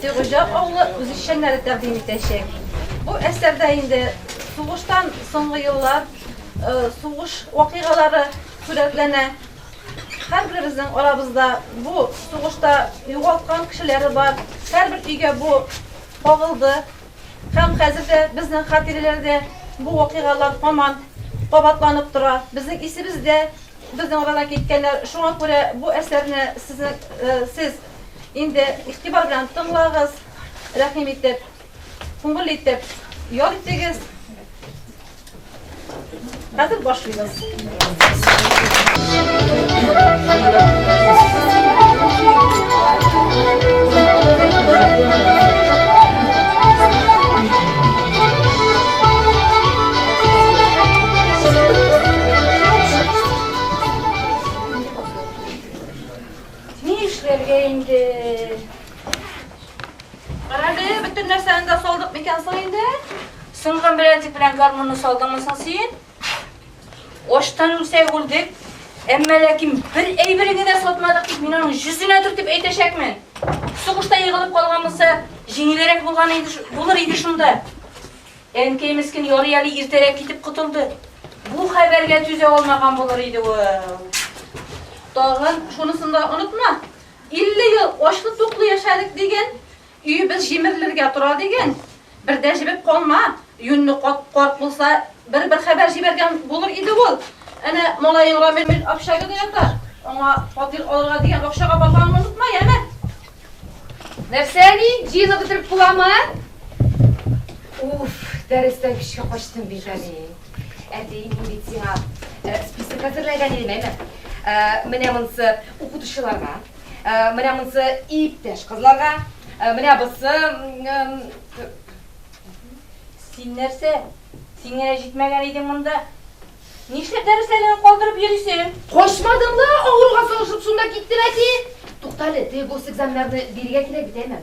Сигыҗа авылы үзешчәннәре тәкъдим итәчәк. Бу әсәрдә инде сугыштан соңгы еллар, сугыш вакыйгалары сурәтләнә. Һәрберебезнең арабызда бу сугышта югалткан кешеләре бар, һәрбер өйгә бу кагылды һәм хәзер дә безнең хатирәләрдә бу вакыйгалар һаман кабатланып тора. Безнең исебездә безнең арадан киткәннәр, шуңа күрә бу әсәрне сезнең сез Инде игътибар белән тыңлагыз, рәхим итеп, күңел итеп ял итегез. Хәзер башлыйбыз. Ни эшләргә инде? Карале, бөтен нәрсәне дә салдык микән соң инде? Сынган беләтик белән гармунны салдыңмы соң син? Очтан үлсәк үлдек, әмма ләкин бер әйберегә дә сатмадык дип мин аның йөзенә төртеп әйтәчәкмен. Сугышта егылып калган булса, җиңелрәк булган иде, булыр иде шунда. Әнкәй мескен ярый әле иртәрәк китеп котылды. Бу хәбәргә түзә алмаган булыр иде ул. Тагын шунысын да онытма. 50 ел ачлы-туклы яшәдек дигән, өебез җимерелергә тора дигән. Бер дә җебеп калма. Юньле карт булса, бер-бер хәбәр җибәргән булыр иде ул. Әнә малаең Рамил общагада ята. Аңа фатир алырга дигән акчага барганыңны онытма, яме? Нәрсә ни? Джина бетереп буламы? Уф, дәрестән көчкә качтым бит әле. Әти, мин бит сиңа э, список әзерләгән идем, әйме? Э, менә монсы укытучыларга, э, менә монсы иптәш кызларга, менә бусы... Син нәрсә? Сиңә җитмәгән идең монда? Нишләп дәресләреңне калдырып йөрисең? Качмадым да, авыруга салышып шунда киттем, әти. Тукта әле, теге госэкзаменнарны бирергә кирәк бит, әйме?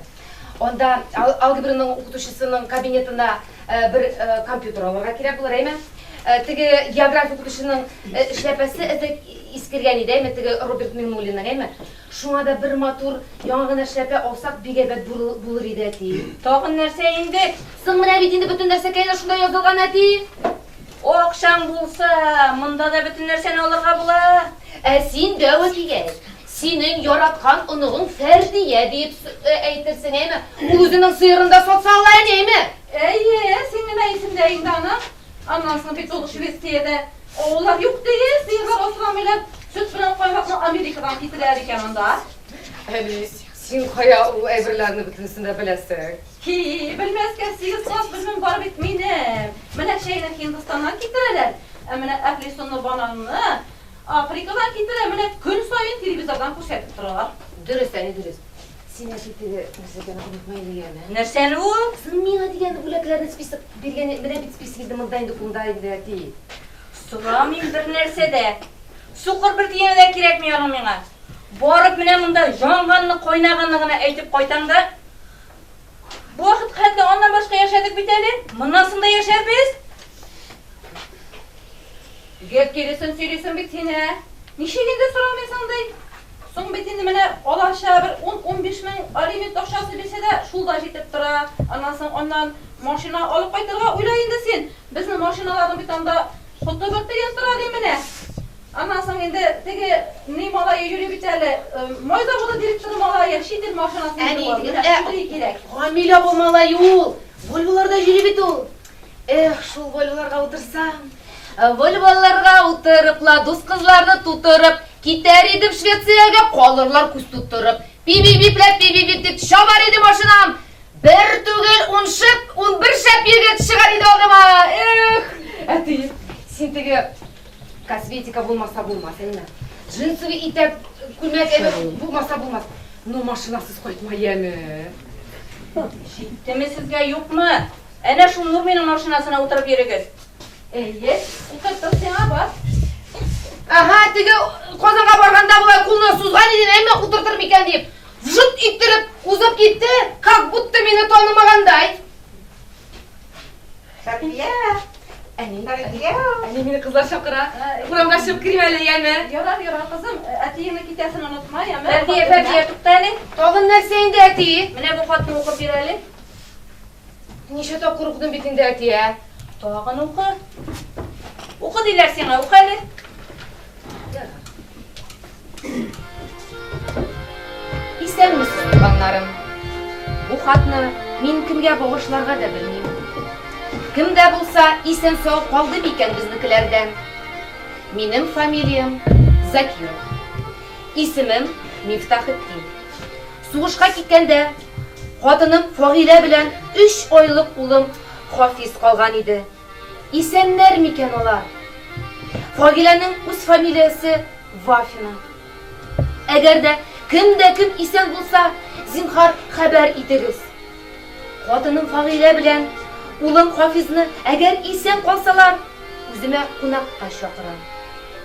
Анда алгебраның укытучысының кабинетына бер компьютер алырга кирәк булыр, әйме? Теге география укытучының эшләпәсе эзәк искергән иде, әйме, теге Роберт Миңнуллинның, әйме? Шуңа да бер матур яңа гына эшләпә алсак, бик әйбәт булыр иде, әти. Тагын нәрсә инде? Соң менә бит инде бөтен нәрсә кәенә шунда язылган, әти. Акчаң булса, монда да бөтен нәрсәне алырга була. Ә син дәва дигәч, синең яраткан оныгың Фәрдия диеп әйтерсең, әйме? Ул үзенең сыерын да сатса ала әле, әйме? Әйе, син генә исеңдә инде аның. Аннан соң бит ул Швециядә авыллар юк ди, сыерлар асрамыйлар, сөт белән каймакны Америкадан китерәләр икән анда. Әни, син кая ул әйберләрне бөтенесен дә беләсең? Һи-и, белмәскә, сигез класс белемем бар бит минем. Менә чәйне Һиндстаннан китерәләр, ә менә әфлисунлы бананны Африкадан китерә, менә көн саен телевизордан күрсәтеп торалар. Дөрес, әни, дөрес. Син әти теге нәрсәләрне онытма әле, яме. Нәрсәне ул? Син миңа дигән бүләкләрне список биргән идең, менә бит списогы монда инде, кунда инде, әти. Сорамыйм бернәрсә дә. Сукыр бер тиене дә кирәкми аның миңа. Барып менә монда янганны, кайнаганны гына әйтеп кайтам да. Бу вакытка хәтле аннан башка яшәдек бит әле, моннан соң да яшәрбез. Гел киресен сөйлисең бит син, ә? Ничек инде сорамыйсың ди? Соң бит инде менә алача бер ун-унбиш мең алимент акчасы бирсә дә, шул да җитеп тора. Аннан соң аннан машина алып кайтырга уйла инде син. Безнең машиналарның бит анда Коты-быты яздыра ди менә. Аннан соң инде теге ни малае йөри бит әле, май заводы директоры малае, чит ил машинасын йөртеп алды. Әни, ә шундый кирәк. Камил апа малае ул, Вольволарда йөри бит ул. Эх, шул Вольволарга утырсам. Вольволарга утырып, ла дус кызларны тутырып, китәр идем Швециягә, калырлар күз тутырып. Пибибипләп, пибибип дип чабар иде машинам. Бер түгел, ун шып, ун бер шәп егет чыгар иде алдыма. Эх, әти, син теге косметика булмаса булмас, әйме. Джинсовый итәп күлмәк әйме булмаса булмас. Ну, машинасыз кайтма, яме. Җиттеме сезгә, юкмы? Әнә шул Нурминың машинасына утырып йөрегез. Әйе, укыттым сиңа, бар. Ага, теге Казанга барганда болай кулны сузган иден, әмма утыртыр микән дип. Вжут иттереп, узып китте, как будто мине танымагандай. Сәбия, әни Сәбия. Әни мине кызлар чакыра. Урамга чыгып керим әле, яме. Ярар, ярар, кызым. Әтиеңне китәсен онытма, яме. Фәрдия, Фәрдия, тукта әле. Тагын нәрсә инде әти? Менә бу хатны укып бир әле. Ничә тапкыр укыдым бит инде, әти, ә? Тагын укы. Укы диләр сиңа, укы әле. Исәнмесез, туганнарым. Бу хатны мин кемгә багышларга да белмим. Кем дә булса исән сау калды микән безнекеләрдән? Минем фамилиям Закиров. Исемем Мифтахетдин. Сугышка киткәндә, хатыным Фагилә белән өч айлык улым Хафиз калган иде. Исәннәр микән алар? Фагиләнең үз фамилиясе Вафина. Әгәр дә кем дә кем исән булса, зинһар, хәбәр итегез. Хатыным Фагилә белән улым Хафизны, әгәр исән калсалар, үземә кунакка чакырам.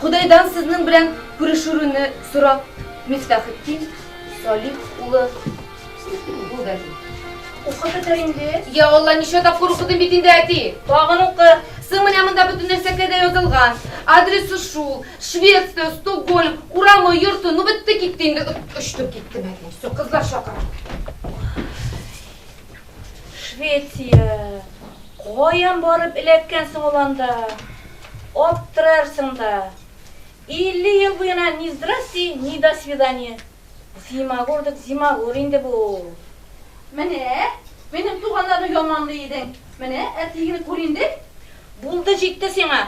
Ходайдан сезнең белән күрешүрүне сорап, Мифтахетдин Салих улы Губәли. Укып бетер инде. Я Алла, ничә тапкыр укыдым бит инде, әти. Тагын укы. Соң менә монда бөтен нәрсәгә дә язылган. Адресы шул, Швеция, Стокгольм, урамы, йорты, ну бетте китте инде. Очтым киттем, әти. Все, кызлар чакыра. Швеция! Каян барып эләккән соң ул анда? Аптырарсың да. Илле ел буена ни здрасте, ни до свидания. Зимагурдык зимагур инде бу. Менә, минем туганнарны яманлый идең. Менә әтиеңне күр инде. Булды, җитте сиңа.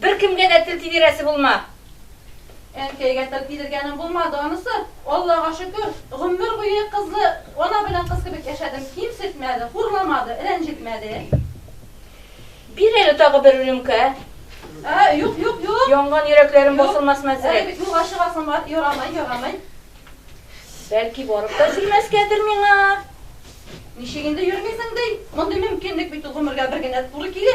Беркемгә дә тел тидерәсе булма. Әнкәйгә тел тидергәнем булмады анысы, Аллага шөкер, гомер буе кызлы ана белән кыз кебек яшәдем, кимсетмәде, хурламады, рәнҗетмәде. Бир әле тагы бер рюмка. Ә, юк, юк, юк. Янган йөрәкләрем басылмасын әзрәк. Әле бит юлга чыгасым бар, ярамый, ярамый. Бәлки барып та җимәскәдер миңа? Ничек инде йөрмисең ди? Мондый мөмкинлек бит ул гомергә бер генә туры килә.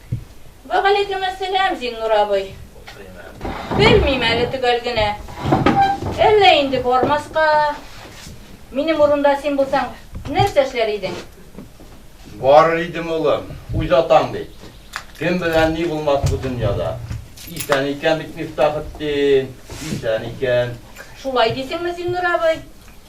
Вәгаләйкемәссәлам, Зиннур абый. Белмим әле төгәл генә. Әллә инде бармаска, минем урында син булсаң, нәрсә эшләр идең? Барыр идем, улым. Үз атаң бит. Кем белән ни булмас бу дөньяда. Исән икән бит Мифтахетдин, исән икән. Шулай дисеңме, Зиннур абый?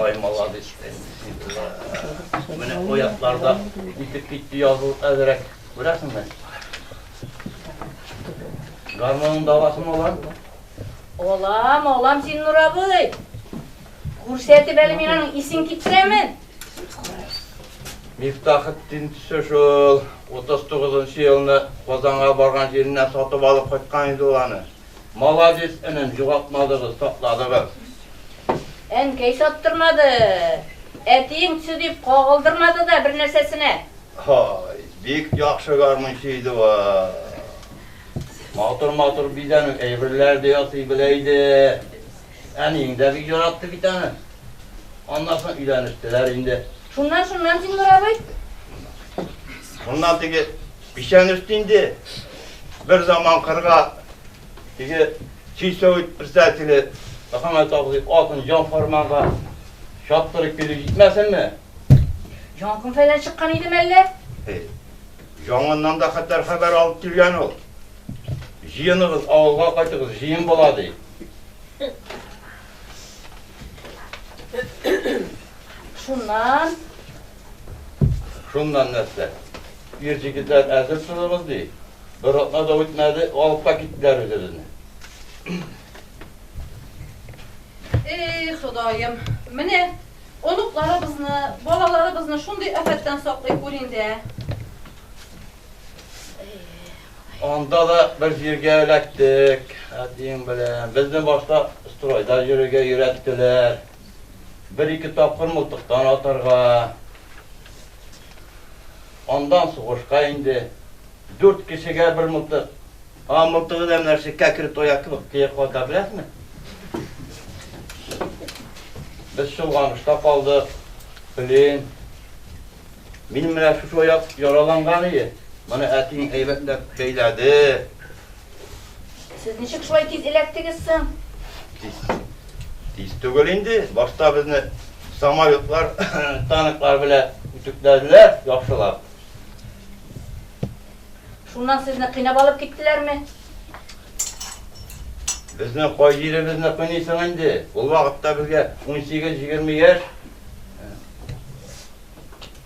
Ай, молодец. Менә оятларда итеп китте язу әзрәк. Күрәсеңме? Гармонның давасын алам. Алам, алам син, Нур абый. Күрсәтеп әле мин аның исен китсәме? Мифтахетдин төсе шул 39 елны Казанга барган җиреннән сатып алып кайткан иде ул аны. Молодец энем, югалтмадыгыз, сакладыгыз. Әнкәй саттырмады. Әтиең төсе дип кагылдырмады да бер нәрсәсенә. Һай, бик яхшы гармунчы иде ва. Матур-матур бизәнү әйберләр дә ясый белә иде. Әниең дә бик яратты бит аны. Аннан соң өйләнештеләр инде. Шуннан, шуннан, Зиннур абый. Шуннан теге печән өсте инде бер заман кырга теге чистовый председателе Мөхәммәт абзый атын җан фарманга чаптырып килеп җитмәсенме? Җангын фәйлән чыккан иде мәллә? Җангыннан да хәтәр хәбәр алып килгән ул. Җыеныгыз, авылга кайтыгыз, җыен була, ди. Шуннан... Шуннан нәрсә? Ир җегетләр әзер торыгыз ди. Бер атна да үтмәде, алып та киттеләр үзебезне. Эй, Ходаем, менә оныкларыбызны, балаларыбызны шундый афәттән саклый күр инде. Анда да бер җиргә эләктек әтиең белән. Безне башта стройда йөрергә өйрәттеләр. Бер-ике тапкыр мылтыктан атарга. Андан сугышка инде. Дүрт кешегә бер мылтык. А мылтыгы да менә шул кәкре тояк кебек тояк вата, беләсезме? Без чолганышта калдык. Блин. Минем менә шушы аяк яраланган иде. Моны әтиң әйбәтләп бәйләде. Сез ничек шулай тиз эләктегез соң? Тиз. Тиз түгел инде. Башта безне самолетлар, танклар белән үтүкләделәр, яхшылап. Шуннан сезне кыйнап алып киттеләрме? Безне кай җиребезне кыйныйсың инде? Ул вакытта безгә 18-20 яшь.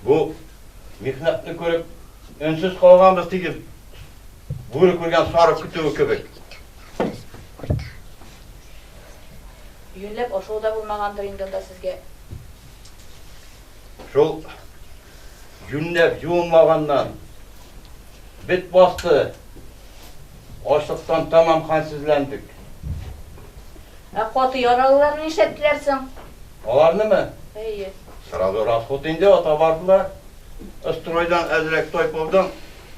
Бу михнәтне күреп, өнсез калганбыз диген. Бүре күргән сарык көтүе кебек. Юньләп ашау да булмагандыр инде анда сезгә. Шул юньләп юынмаганнан бит басты. Ашлыктан тамам хәлсезләндек. Ә каты яралыларны нишләттеләр соң? Аларнымы? Әйе. Сразу расход инде, ата бардылар. Стройдан әзрәк тайпылдым.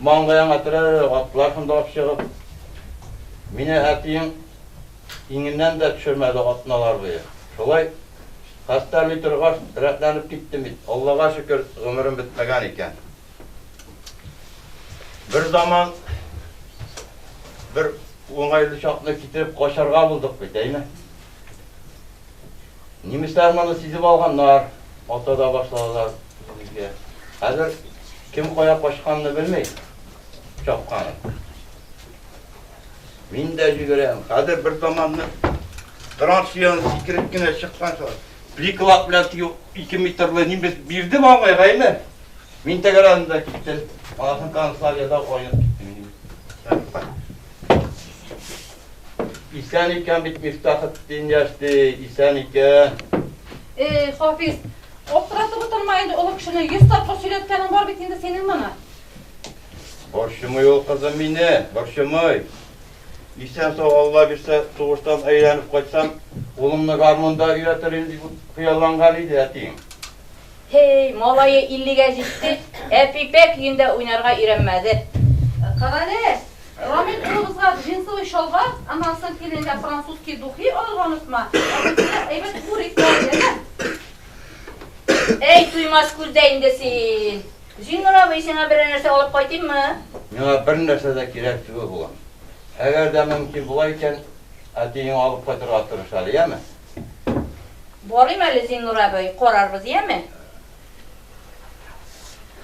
Маңгаеңа терәлерлек атлар шунда ук чыгып. Мине әтиең иңеннән дә төшермәде атналар буе. Шулай хәстәрли торгач, рәтләнеп киттем бит. Аллага шөкер, гомерем бетмәгән икән. Берзаман бер уңайлы чакны китереп качарга булдык бит, әйме? Немецлар моны сизеп алганнар, ата да башладылар безгә. Хәзер кем кая качканны белми, чапканын. Мин дә җигерәм. Хәзер бер заманны траншияны сикереп кенә чыккан шулай. Пликалап белән теге ике метрлы немец бирде маңгай гайме. Мин тәгәрәдем дә киттем. Асын канцлагерьда кайнап киттем. Исән икән бит Мифтахетдин яшь ди, исән икән. Эй, Хафиз, аптыратып утырма инде, олы кешене йөз тапкыр сөйләткәнең бар бит инде синең моны. Борчымый ул кызым мине, борчымый. Исән-сау Алла бирсә, сугыштан әйләнеп кайтсам, улымны гармунда өйрәтер идем дип хыялланган иде әтиең. Һей, малае иллегә җитте, ә пипәк өендә уйнарга өйрәнмәде. Карале, Рамил улыбызга джинсовый чалбар, аннан соң киленгә французский духи алырга онытма, ә үзеңә әйбәт бурик тә ал, яме? Әй, туймас күз дә инде син! Зиннур абый, сиңа берәр нәрсә алып кайтыйммы? Миңа бер нәрсә дә кирәк түгел, улым. Әгәр дә мөмкин була икән, әтиеңә алып кайтырга тырыш әле, яме? Барыйм әле, Зиннур абый, карарбыз, яме?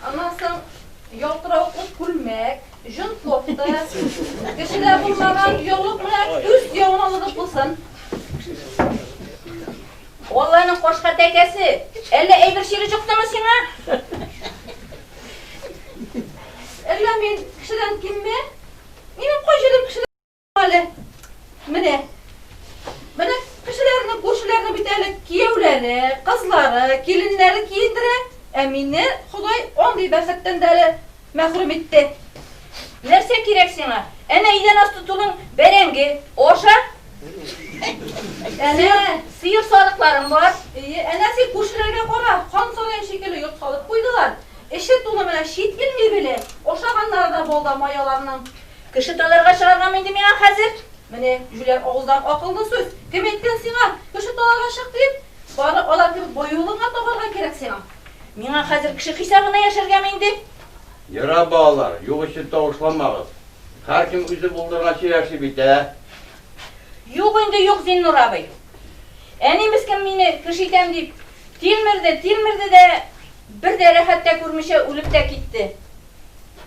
Аннан соң ялтыравыклы күлмәк, җон кофта, кешедә булмаган яулык менә үз яңалыгы булсын. Алланың кашка тәкәсе, әллә әйбер чире чыктымы сиңа? Әллә мин кешедән кимме? Минем кай җирем кешедән Әле, менә, менә кешеләрне, күршеләрне бит әле кияүләре, кызлары, киленнәре киендерә, ә мине Ходай андый бәхеттән дә әле мәхрүм итте. Нәрсә кирәк сиңа? Әнә идән асты тулың бәрәңге, аша. Әнә сыер сарыкларың бар. Ие, әнә син күршеләргә кара, хан сарае шикелле йорт салып куйдылар. Эче тулы менә чит ил мебеле, ашаганнары да балда маяларның. Кеше таларга чыгаргамы инде миңа хәзер? Менә җүләр авыздан акыллы сүз! Кем әйткән сиңа, кеше таларга чык дип? Бары алар кебек боюлыгыңа табарга кирәк сиңа. Миңа хәзер кеше хисабына яшәргәме инде? Йора, балалар, юк өчен тавышламагыз. Һәркем үзе булдырганча яши бит, ә? Юк инде, юк, Зиннур абый. Әни мескен мине кеше итәм дип тилмерде, тилмерде дә, бер дә рәхәт тә күрмичә үлеп тә китте.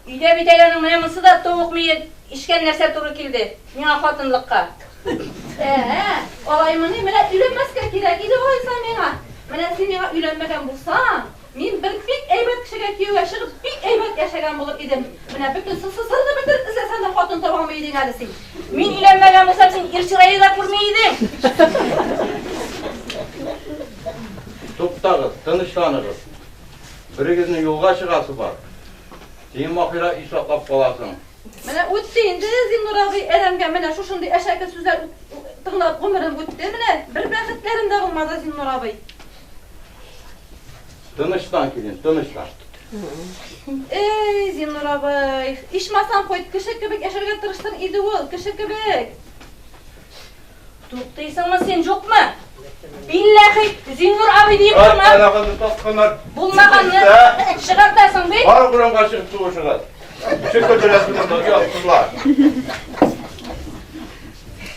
Өйдә бит әле аның менә монсы да товык мие ишкән нәрсә туры килде миңа хатынлыкка. Ә-ә, алаймыни, менә өйләнмәскә кирәк иде алайса миңа. Менә син миңа өйләнмәгән булсаң, мин бер бик әйбәт кешегә кияүгә чыгып, бик әйбәт яшәгән булыр идем. Менә бөтен сысы-сырны бетереп эзләсәң дә хатын таба алмый идең әле син. Мин өйләнмәгән булсам, син ир чырае да күрми идең. Туктагыз, тынычланыгыз. Берегезнең юлга чыгасы бар. Син Маһира ис аклап каласың. Менә үтте инде Зиннур абый әрәмгә менә шушындый әшәке сүзләр тыңлап гомерем үтте. Менә бер бәхетләрем дә булмады Зиннур абый. Тыныштан килен, тыныштан. Эй, Зиннур абый, ичмасам кайт, кеше кебек яшәргә тырыштың иде ул, кеше кебек. Туктыйсыңмы син, юкмы? Билләхи, Зиннур абый диеп торма. Аллага тотмар. Булмаганны чыгартасың бит. Бар урамга чыгып туышыгыз. Чыгып өләсен монда, ясызлар.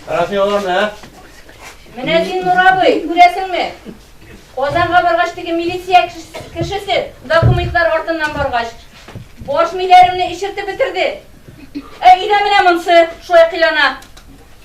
Рәсми аларны, ә? Менә Зиннур абый, күрәсеңме? Казанга баргач теге милиция кешесе документлар артыннан баргач, баш миләремне ишертеп бетерде. Ә өйдә менә монсы, шулай кыйлана.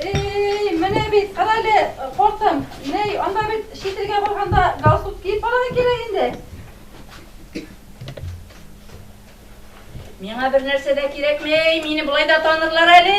Эй, менә бит, кара әле, кортым. Ней, анда бит чит илгә барганда галстук киеп барырга кирәк инде. Миңа бер нәрсә дә кирәкми, мине болай да танырлар әле.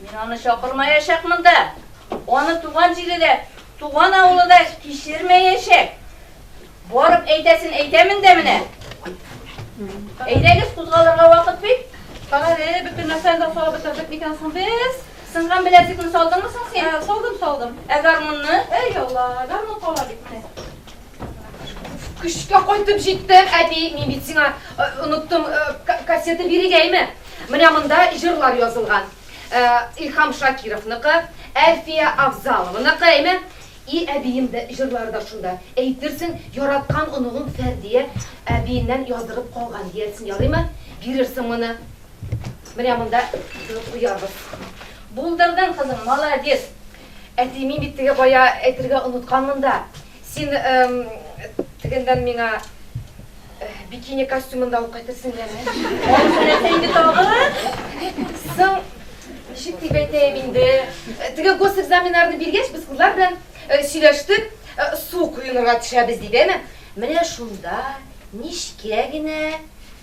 Мин аны чакырмаячакмын да. Аны туган җире дә, туган авылы да кичермәячәк. Барып әйтәсен әйтәмен дә менә. Әйдәгез, кузгалырга вакыт бит. Кара әле, бөтен нәрсәне дә салып бетердек микән соң без? Сынган беләзекне салдыңмы соң син? Ә, салдым, салдым. Ә гармунны? Әй, Алла, гармун кала бит менә. Көчкә кайтып җиттем, әти, мин бит сиңа э, оныттым э, кассета бирегәйме? Менә монда җырлар язылган. Э, Илхам Шакировныкы, Әлфия Авзалованыкы, әйме? И әбием дә җырлары да шунда. Әйтерсең, яраткан оныгың Фәрдия әбиеннән яздырып калган диярсең, ярыймы? Бирерсең моны. Менә монда куябыз. Булдырдың, кызым, молодец. Әти, мин бит теге бая әйтергә онытканмын да. Син тегендән миңа бикини костюмында алып кайтырсың яме? Анысы нәрсә инде тагы? Соң, ничек дип әйтәем инде, теге госэкзаменнарны биргәч, без кызлар белән сөйләштек, су коенырга төшәбез дип, әме? Менә шунда, нечкә генә,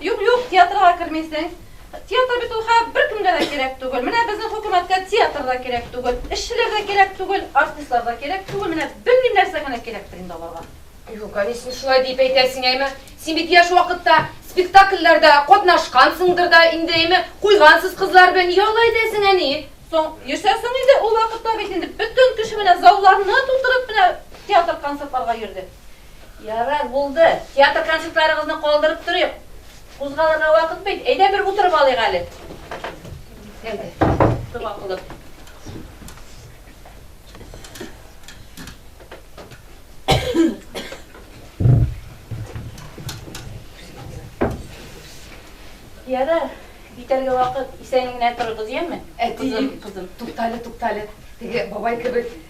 Юк, юк, театрга кермисең. Театр бит ул хәзер беркемгә дә кирәк түгел. Менә безнең хөкүмәткә театр да кирәк түгел, эшчеләр дә кирәк түгел, артистлар да кирәк түгел. Менә белмим нәрсә генә кирәктер инде аларга. Юк, әни, син шулай дип әйтәсең, әйме? Син бит яшь вакытта спектакльләрдә катнашкансыңдыр да инде, әйме? Куйгансыз кызлар белән, нигә алай әйтәсең, әни? Соң, йөрсә соң инде, ул вакытта бит инде бөтен кеше менә залларны тутырып менә театр-концертларга йөрде. Ярар, булды. Театр концертларыгызны калдырып торыйк. Кузгалырга вакыт бит. Әйдә, бер утырып алыйк әле. Әйдә, дога кылып. Ярар, битәргә вакыт. Исән генә торыгыз, яме? Әти, кызым, туктале, туктале. Теге бабай кебек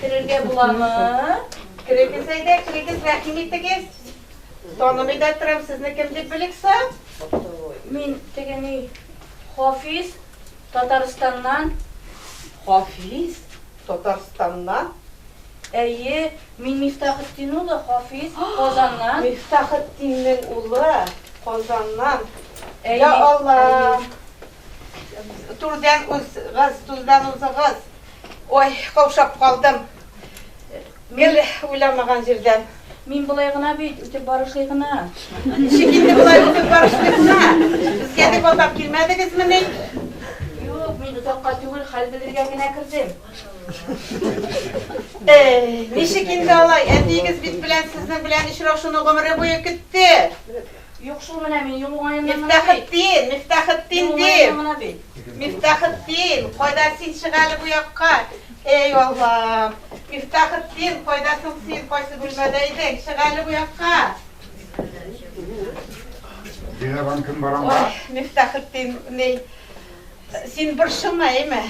Керергә буламы? Керегез әйдә, керегез, рәхим итегез. Танымый да торам, сезне кем дип белексә? Мин тегени Хафиз Татарстаннан. Хафиз Татарстаннан. Әйе, мин Мифтахетдин улы Хафиз, Казаннан. Мифтахетдиннең улы, Казаннан. Йа Алла! Түрдән узыгыз, түрдән узыгыз. Ой, каушап калдым. Гел уйламаган җирдән. Мин болай гына бит, үтеп барышлый гына. Ничек инде болай үтеп барышлый гына? Безгә дип алдап килмәдегезмени? Юк, мин озакка түгел, хәл белергә генә кердем. Әй, ничек инде алай? Әтиегез бит белән сезнең белән очрашуны гомере буе көтте. Юк шул менә мин юл уңаеннан гына бит. Мифтахетдин, Мифтахетдин Юл уңаеннан дим. гына бит. Мифтахетдин, кайда син чык әле бу якка? Эй, Аллам! Мифтахетдин, кайда соң син? Кайсы бүлмәдә идең? Чык әле бу якка! Диләрәм кем барам Ой, Мифтахетдин, ни, Син борчылма, әйме.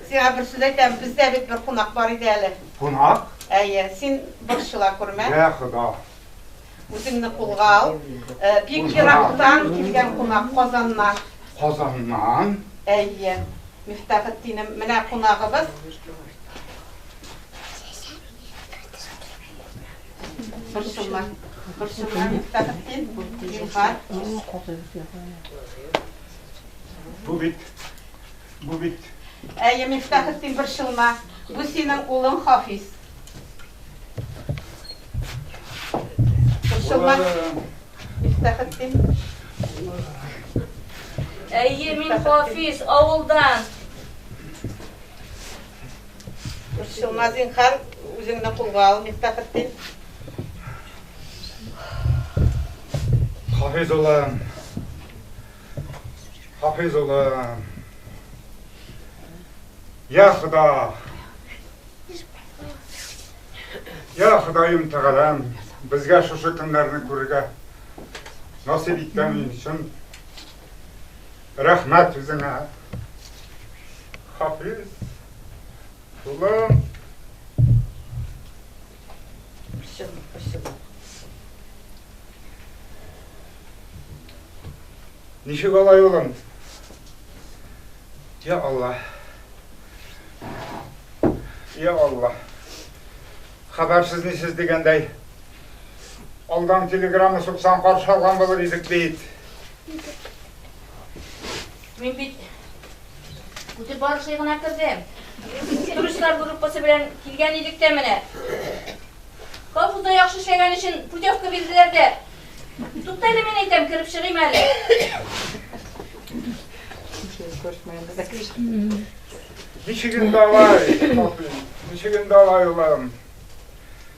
Сиңа бер сүз әйтәм, бездә бит бер кунак бар иде әле. Кунак? Әйе, син борчыла күрмә. Йә, Хода. Үзеңне кулга ал. Бик ерактан килгән кунак Казаннан. Казаннан? Әйе. Мифтахетдинем, менә кунагыбыз. Борчылма. Борчылма, Мифтахетдин. Зинһар. Бу бит, бу бит. Әйе, Мифтахетдин, борчылма. Бу синең улың Хафиз. Борчылма. Мифтахетдин. Әйе, мин Хафиз, авылдан. Борчылма, зинхар, үзеңне кулга ал, Мифтахетдин. Хафиз улым, Хафиз улым. Я Худа. Я Худаем Тәгаләм, безгә шушы көннәрне күрергә насыйп иткән өчен рәхмәт үзеңә. Хафиз. Улым. Все, спасибо. Ничек алай улым? Я Аллах. Я Аллах. Хәбәрсез нисез дигәндәй. Алдан телеграмма суксан каршы алган булыр идек бит. Мин бит үтеп барышлый гына кердем. Туристлар группасы белән килгән идек тә менә. Колхозда яхшы эшләгән өчен путевка бирделәр дә. Тукта әле мин әйтәм, кереп чыгыйм әле. Ничек инде алай, ничек инде алай улым?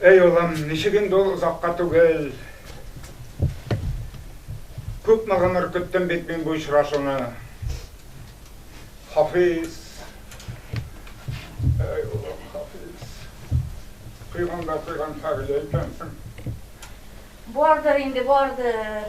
Әй улым, ничек инде ул озакка түгел. Күпме гомер көттем бит мин бу очрашуны. Хафиз. Әй улым, Хафиз. Кыйган да кыйган хәбиле икәнсең. Бардыр инде, бардыр.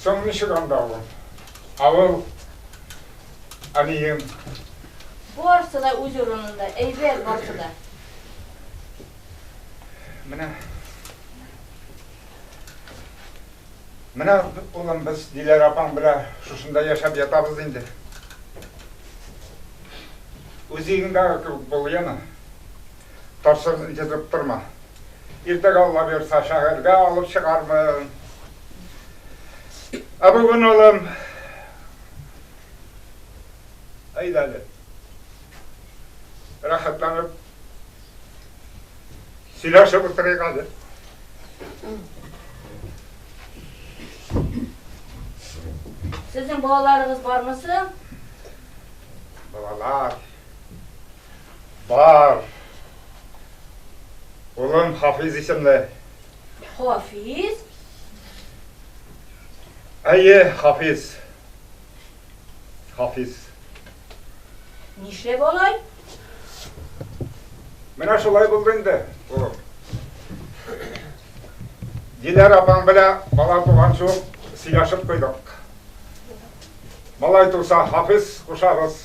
Соң ничек анда ул? Авыл әниең. Барсы да үз урынында, әйбәт барсы да. Менә. Менә, улым, без Диләрә апаң белән шушында яшәп ятабыз инде. Үз өеңдәге кебек бул, яме. Торсын, җезеп торма. Иртәгә Алла боерса шәһәргә алып чыгармын. Ә бүген, улым, әйдә әле. Рәхәтләнеп сөйләшеп утырыйк әле. Сезнең балаларыгыз бармы соң? Балалар. Бар. Улым Хафиз исемле. Хафиз? Әйе, Хафиз. Хафиз. Нишләп алай? Менә шулай булды инде, улым. Диләр апаң белән бала туган шул сөйләшеп куйдык. Малай туса, Хафиз кушабыз.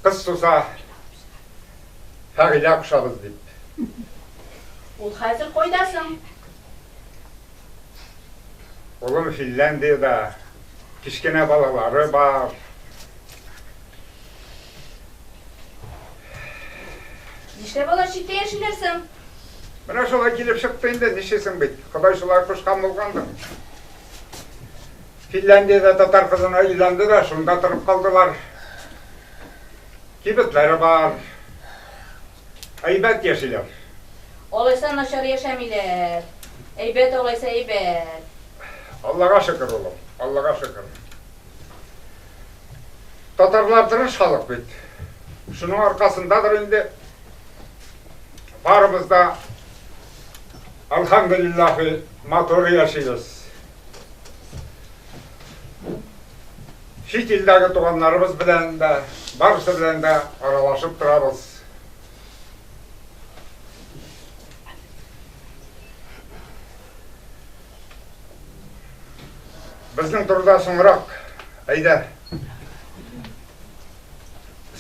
Кыз суза, Фәгыйлә кушабыз дип. Ул хәзер кайда соң? Улым Финляндиядә, кечкенә балалары бар. Нишләп алар читтә яшиләр соң? Менә шулай килеп чыкты инде, нишлисең бит, Ходай шулай кушкан булгандыр. Финляндиядә татар кызына өйләнде дә, шунда торып калдылар. Кибетләре бар. Әйбәт яшиләр. Алайса начар яшәмиләр. Әйбәт алайса, әйбәт. Аллага шөкер, улым, Аллага шөкер. Татарлар тырыш халык бит. Шуның аркасындадыр инде, барыбыз да, Алхамдулиллахи, матур яшибез. Чит илдәге туганнарыбыз белән дә, барысы белән дә аралашып торабыз. Безнең турыда соңрак, әйдә,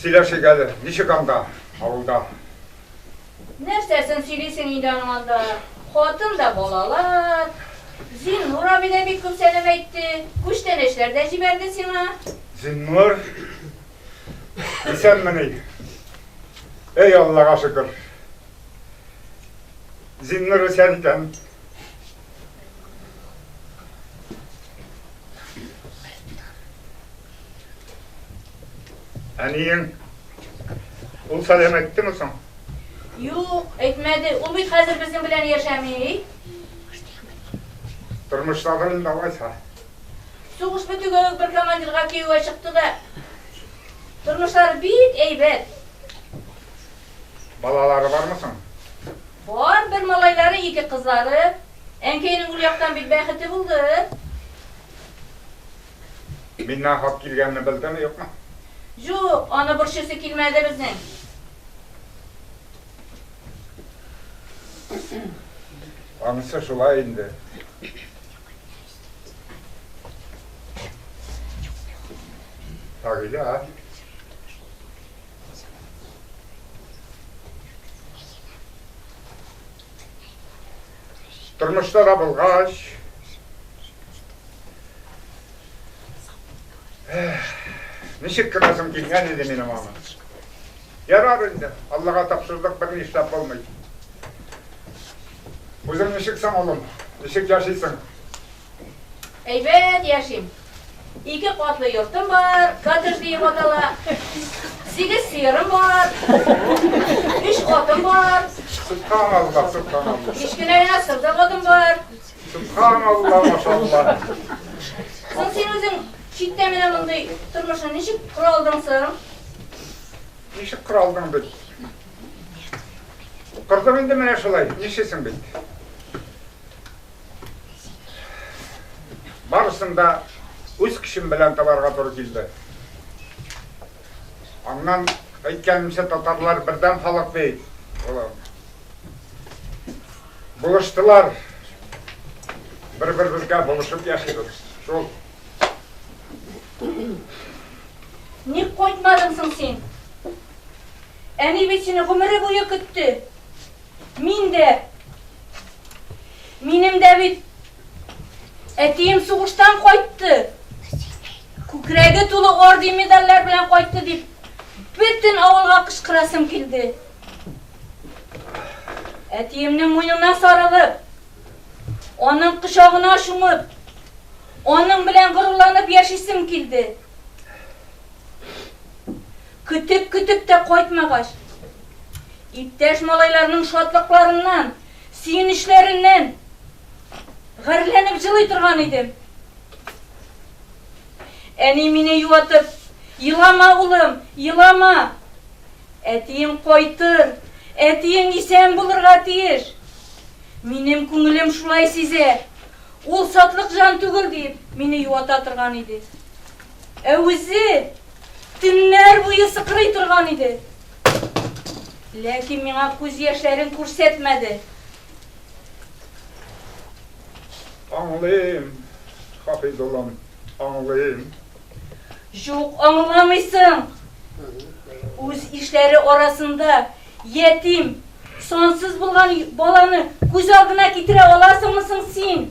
сөйләшик әле, ничек анда, авылда? Нәрсәсен сөйлисең инде аның анда, хатын да, балалар. Зиннур абый да бик күп сәлам әйтте, күчтәнәчләр дә җибәрде сиңа. Зиннур, исәнмени? Әй, Аллага шөкер. Зиннур исән икән. Әниең, ул сәлам әйттеме соң? Юк, әйтмәде. Ул бит хәзер безнең белән яшәми. Тормышладыр инде алайса. Сугыш бетүгә үк бер командирга кияүгә чыкты да. Тормышлары бик әйбәт. Балалары бармы соң? Бар, бер малайлары, ике кызлары. Әнкәйнең ул яктан бит бәхете булды. Миннән хат килгәнне белдеме, юкмы? Җук, аны борчыйсы килмәде безнең. Анысы шулай инде. Фагилә. Тормышта да булгач, ничек кенәсем килгән иде минем аны. Ярар инде, Аллага тапшырдык, бер нишләп булмый. Үзең ничек соң, улым? Ничек яшисең? Әйбәт яшим. Ике катлы йортым бар, коттедж диеп атала. Сигез сыерым бар. Өч атым бар. Субханалла, субханалла. Кечкенә генә сырдык атым бар. Субханалла, машалла. Соң син үзең читтә менә мондый тормышны ничек кора алдың соң? Ничек кора алдың бит? Кырдым инде менә шулай, ничесең бит? Барысын да үз көчем белән табарга туры килде. Аннан әйткәнемчә татарлар бердәм халык бит. Булыштылар. Бер-беребезгә булышып яшибез. Шул. Ник кайтмадың соң син? Әни бит сине гомере буе көтте. Мин дә. Минем дә бит әтием сугыштан кайтты. Күкрәге тулы орден медальләр белән кайтты дип, бөтен авылга кычкырасым килде. Әтиемнең муенына сарылып, аның кочагына чумып, аның белән горурланып яшисем килде. Көтеп-көтеп тә кайтмагач, иптәш малайларның шатлыкларыннан, сөенечләреннән гарьләнеп җылый торган идем. Әни мине юатып, Елама, улым, елама! Әтиең кайтыр, әтиең исән булырга тиеш. Минем күңелем шулай сизә, ул сатлык җан түгел, диеп, мине юата торган иде. Ә үзе төннәр буе сыкрый торган иде. Ләкин миңа күз яшьләрен күрсәтмәде. Аңлыйм, Хафиз улым, аңлыйм. Юк, аңламыйсың. Үз ишләре арасында ятим, сансыз булган баланы күз алдына китерә аласыңмы соң син?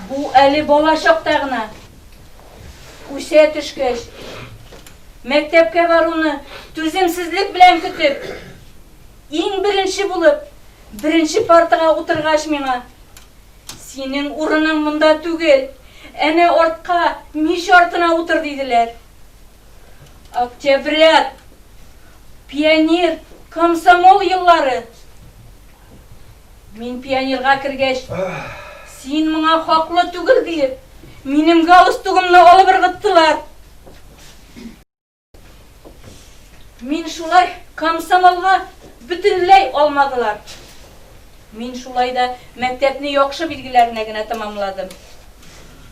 Бу әле бала чакта гына. Үсә төшкәч, мәктәпкә баруны түземсезлек белән көтеп, иң беренче булып, беренче партага утыргач миңа, Синең урының монда түгел, әнә артка, мич артына утыр, диделәр. Октябрят, пионер, комсомол еллары. Мин пионерга кергәч, син моңа хаклы түгел диеп, минем галстугымны алып ыргыттылар. Мин шулай комсомолга бөтенләй алмадылар. Мин шулай да мәктәпне яхшы билгеләренә генә тәмамладым.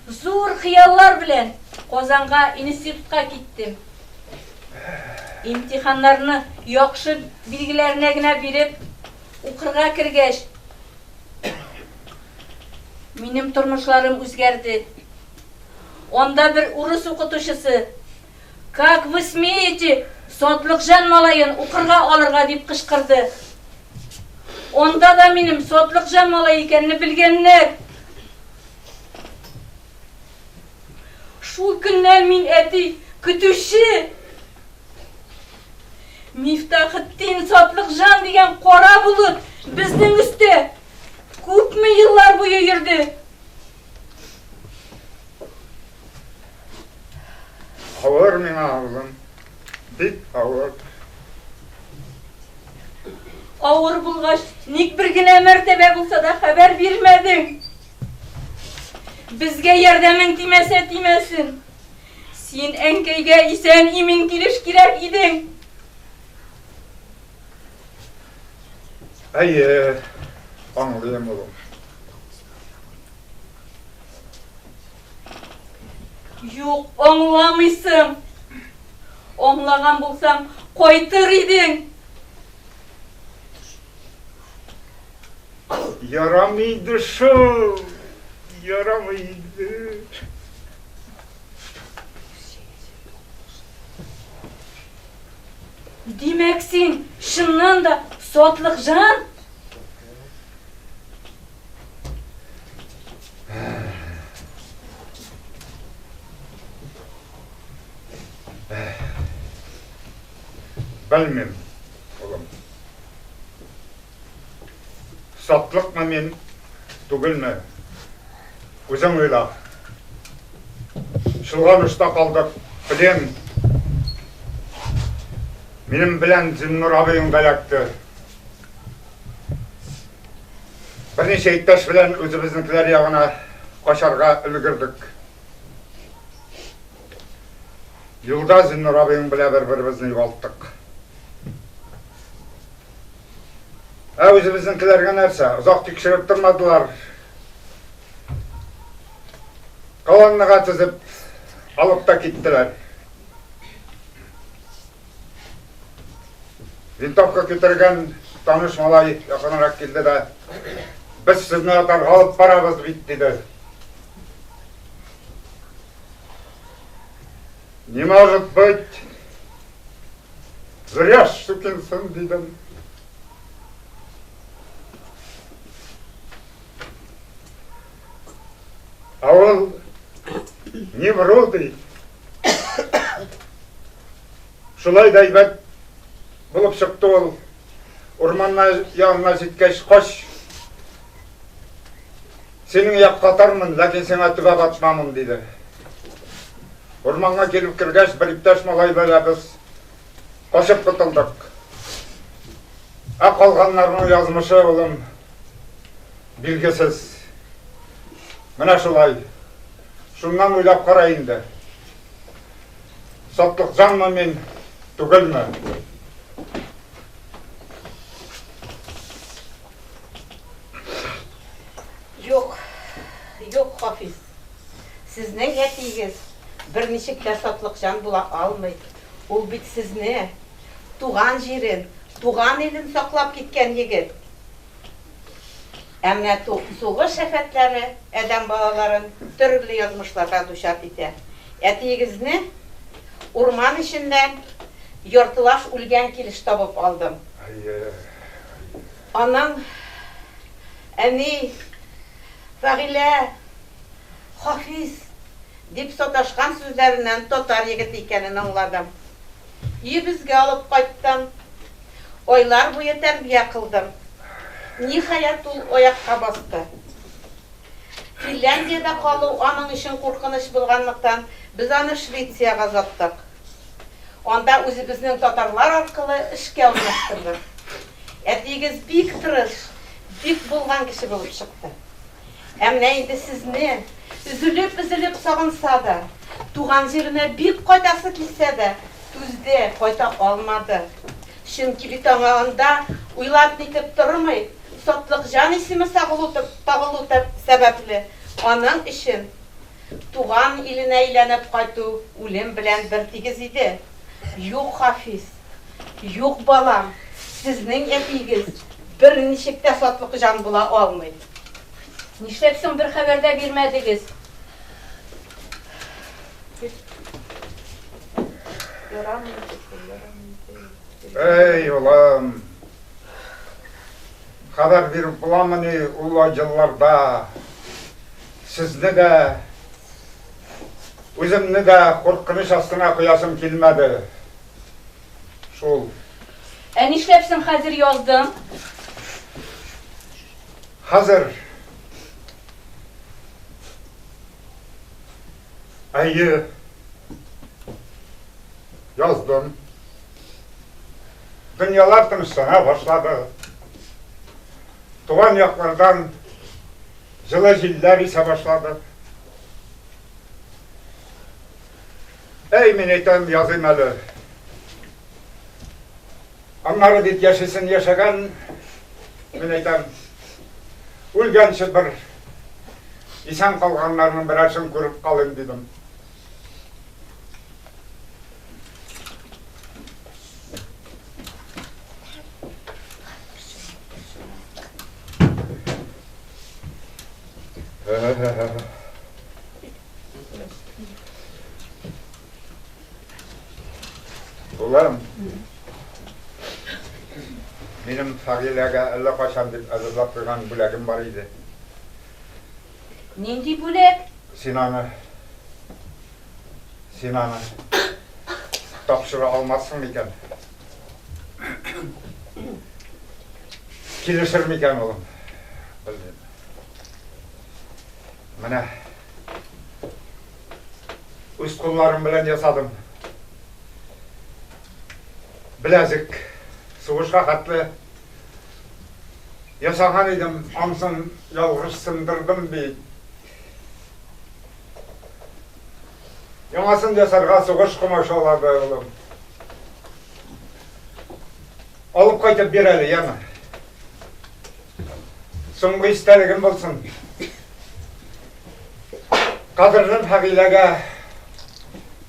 Зур хыяллар белән Казанга институтка киттем. Имтиханнарны яхшы билгеләренә генә биреп, Укырга кергәч, минем тормышларым үзгәрде. Анда бер урыс укытучысы, Как вы смеете Сотлыкжан малаен укырга алырга дип кычкырды. Анда да минем Сотлыкжан малай икәнне белгәннәр. Шул көннән мин әти көтүче. Мифтахетдин Сатлыкҗан дигән кара болыт безнең өстә күпме еллар буе йөрде. Авыр миңа, улым, бик авыр. Авыр булгач, ник бер генә мәртәбә булса да хәбәр бирмәдең? Безгә ярдәмең тимәсә тимәсен. Син әнкәйгә исән-имин килеш кирәк идең! Әйе, аңлыйм, улым. Юк, аңламыйсың. Аңлаган булсаң, кайтыр идең. Ярамый иде шул, ярамый иде. Димәк, син чыннан да сотлык жан? Белмим. Сатлыкмы мин, түгелме? Үзең уйла. Шылган очта калдык, белем. Минем белән Зиннур абыең да якты. Берничә иптәш белән үзебезнекеләр ягына качарга өлгердек. Юлда Зиннур абыең белән бер-беребезне югалттык. Ә үзебезнекеләргә нәрсә? Озак тикшереп тормадылар. Колоннага тезеп, алып та киттеләр. Винтовка көтергән таныш малай якынрак килде дә, без сезне атарга алып барабыз бит, диде. Не может быть! Врешь, сукин сын, дидем. А он не вру, ди. Шулай да әйбәт булып чыкты ул. Урманна янына җиткәч, кош Синең як катармын, ләкин сиңа төбәп атмамын, диде. Урманга килеп кергәч, бер иптәш малай белән без качып котылдык. Ә калганнарның язмышы, улым, билгесез. Менә шулай. Шуннан уйлап кара инде. Сатлыкҗанмы мин, түгелме? Юк, юк, Хафиз. Сезнең әтиегез берничек тә сатлыкҗан була алмый. Ул бит сезне, туган җирен, туган илен саклап киткән егет. Ә менә сугыш афәтләре адәм балаларын төрле язмышларга дучар итә. Әтиегезне урман эченнән яртылаш үлгән килеш табып алдым. Анаң, әни, Фәгыйлә, Хафиз, дип саташкан сүзләреннән татар егете икәнен аңладым. Өебезгә алып кайттым. Айлар буе тәрбия кылдым. Ниһаять, ул аякка басты. Финляндиядә калу аның өчен куркыныч булганлыктан, без аны Швециягә озаттык. Анда үзебезнең татарлар аркылы эшкә урнаштырдык. Әтиегез бик тырыш, бик булган кеше булып чыкты. Ә менә инде сезне, өзелеп-өзелеп сагынса да, туган җиренә бик кайтасы килсә дә, түзде, кайта алмады. Чөнки бит аңа анда уйлап-нитеп тормый, Сатлыкҗан исеме сагылу-табылу сәбәпле, аның өчен. Туган иленә әйләнеп кайту үлем белән бертигез иде. Юк, Хафиз. Юк, балам, сезнең әтиегез берничек тә сатлык җан була алмый. Нишләп соң бер хәбәр дә бирмәдегез? Әй, улым, хәбәр биреп буламыни ул елларда? Сезне дә, үземне дә куркыныч астына куясым килмәде шул. Ә нишләп соң хәзер яздың? Хәзер. Әйе. Яздым. Дөньялар тынычлана башлады. Туган яклардан Җылы җилләр исә башлады. Әй, мин әйтәм, языйм әле. Аннары бит яшисен яшәгән, мин әйтәм, үлгәнче бер исән калганнарның берәрсен күреп калыйм дидем. Улым, минем Фагиләгә әллә кайчан дип әзерләп куйган бүләгем бар иде. Нинди бүләк? Син аны Син аны тапшыра алмассың микән? Килешер микән улым? Белмим. Менә үз кулларым белән ясадым. Беләзек сугышка хәтле Ясаган идем, ансын ялгыш сындырдым бит. Яңасын ясарга сугыш комачаулады, улым. Алып кайтып бир әле, яме. Соңгы истәлегем булсын. Кадерлем Хәгыйләгә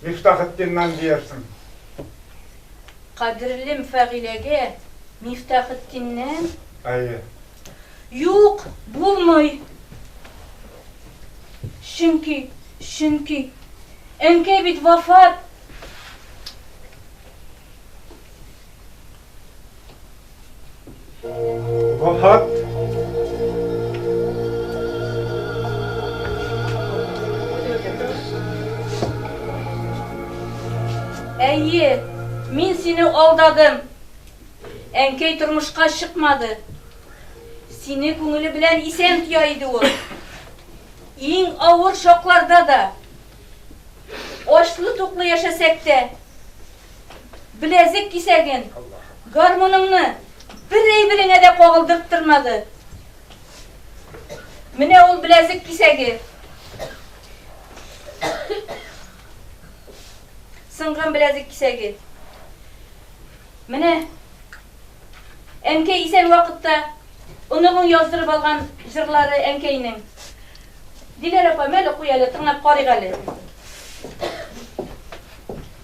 Мифтахетдиннан диярсең. Кадерлем Фәгыйләгә Мифтахетдиннән? Әйе. Юк, булмый. Чөнки, чөнки әнкәй бит вафат. Вахат. Әйе, мин сине алдадым. Әнкәй тормышка чыкмады. Сине күңеле белән исән тия иде ул. Иң авыр шокларда да, очлы-туклы яшәсәк тә, беләзек кисәген, гармуныңны бер әйбереңә дә кагылдырттырмады. Менә ул беләзек кисәге. Сынган беләзек кисәге. Менә әнкәй исән вакытта оныгың яздырып алган җырлары әнкәйнең. Диләр апа, мәле куй әле, тыңлап карыйк әле.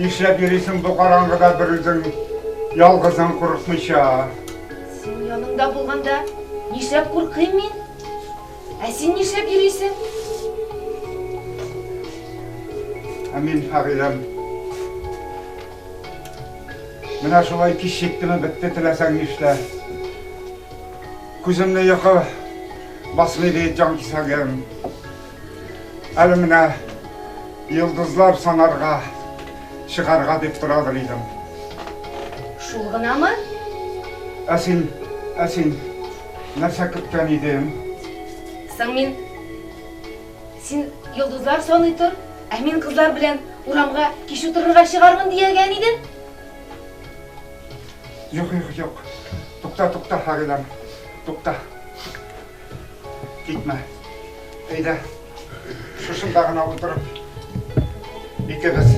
Нишләп йөрисең бу караңгыда бер үзең, ялгызың курыкмыйча? Син яныңда булганда нишләп куркыйм мин? Ә син нишләп йөрисең? Ә мин, Фагыйләм, Менә шулай кич җиттеме бетте теләсәң нишлә. Күземне йокы басмый бит җан кисәгем. Әле менә йолдызлар санарга, чыгарга дип торадыр идем. Шул гынамы? Ә син, ә син нәрсә көткән идең? Соң мин, син йолдызлар саный тор, ә мин кызлар белән урамга кич утырырга чыгармын диягән идем. Юк, юк, юк. Тукта, тукта, Фагыйләм, тукта. Китмә. Әйдә. Шушында гына утырып, икебез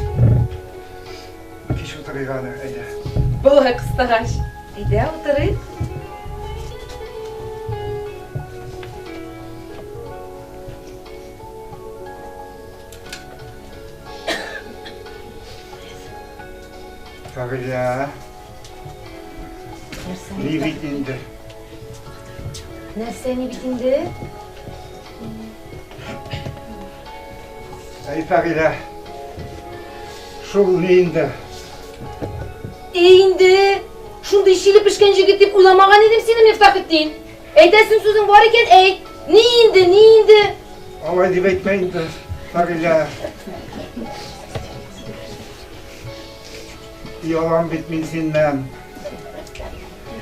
кич утырыйк әле, әйдә. Болай кыстагач, әйдә утырыйк. Кавилия. Ни бит инде? Нәрсә ни бит инде? Әй, Фәгилә, шул ни инде? Әй инде, шундый чиле пешкән җегет дип уйламаган идем сине, Мифтахетдин. Әйтәсең сүзең бар икән, әйт. Ни инде, ни инде? Алай дип әйтмә инде, Фәгилә. Оялам бит мин синнән.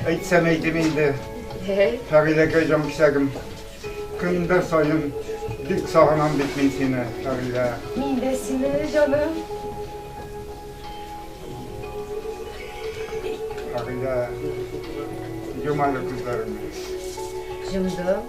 Әйтсәм әйтим инде. Фәгыйләкәй җан кисәгем. Көндә саен бик сагынам бит мин сине, Фәгыйлә. Мин дә сине, җаным. Фәгыйлә, йом әле күзләреңне. Җомдым.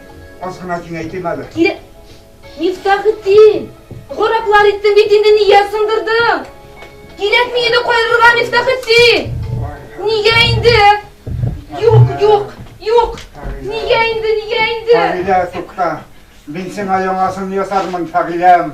Аз гына киңәйтим әле. Кире... Мифтахетдин! Гараплар иттең бит инде, нигә сындырдың? Кирәкми иде кайырырга, Мифтахетдин! Нигә инде? Юк, юк, юк! Нигә инде, нигә инде? Фагилә, тукта. Мин сиңа яңасын ясармын, Фагиләм.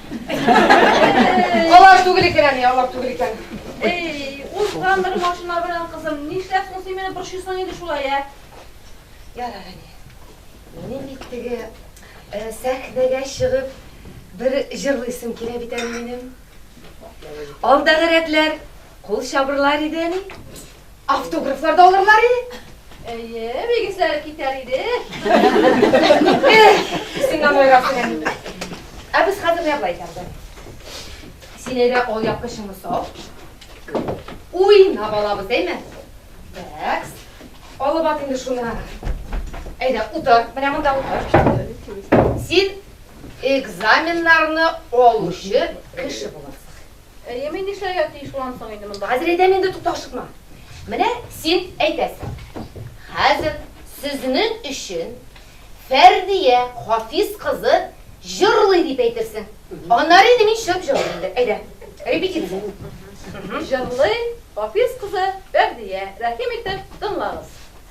Алар түгел икән әни, алар түгел икән. Эй, узган бер машина белән кызым, нишләп соң син мине борчыйсың инде шулай, ә? Ярар, әни. Минем бит теге э, сәхнәгә чыгып бер җырлыйсым килә бит әле минем. Алдагы рәтләр кул чабырлар иде әни. Автографлар да алырлар и? Әйе, бик исләре китәр иде. Син аны уйларсың. Ә без хәзер нәрлә итәрбез? Син әйдә ул япкычыңны сал. Уйнап алабыз, әйме? Бәкс. Алып ат инде шуны. Әйдә, утыр. Менә монда утыр. Син экзаменнарны алучы кеше буласың. Әйе, мин нишләргә тиеш булам соң инде монда? Хәзер әйтәм инде, тукта, ашыкма. Менә син әйтәсең. Хәзер сезнең өчен Фәрдия Хафиз кызы җырлый дип әйтерсең. Аннары инде мин чыгып җырлыйм инде. Әйдә, репетиция. Җырлый Хафиз кызы Фәрдия. Рәхим итеп тыңлагыз.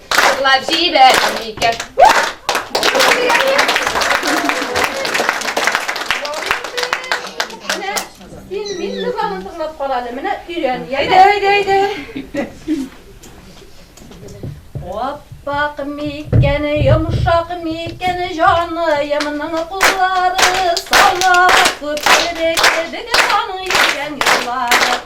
Җырлап җибәрә микән? Син мин кызларын тыңлап кал әле. Менә өйрән. Әйдә, әйдә, әйдә. Аппак микән, йомшак микән, җаныемның куллары, салмак күперек кебек аның йөргән юллары.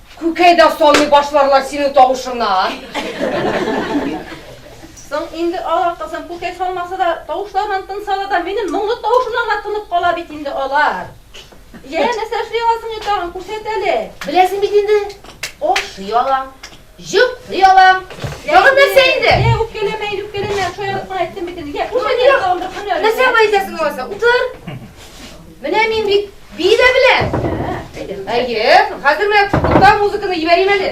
Күкәй дә салмый башларлар синең тавышыңнан. Соң инде алар кызым күкәй салмаса да, тавышларыннан тынсалар да, минем моңлы тавышымнан гына тынып кала бит инде алар. Йә, нәрсә эшли аласың инде тагын, күрсәт әле. Беләсең бит инде, ашый алам, җоклый алам. Тагын нәрсә инде? Йә, үпкәләмә инде, үпкәләмә, шаярып кына әйттем бит инде. Йә, күрсәт әле тагын бер һөнәреңне. Нәрсә гына әйтәсең алайса, утыр. Менә мин бит бии дә беләм. Әйе, хәзер менә тукта музыканы җибәрим әле.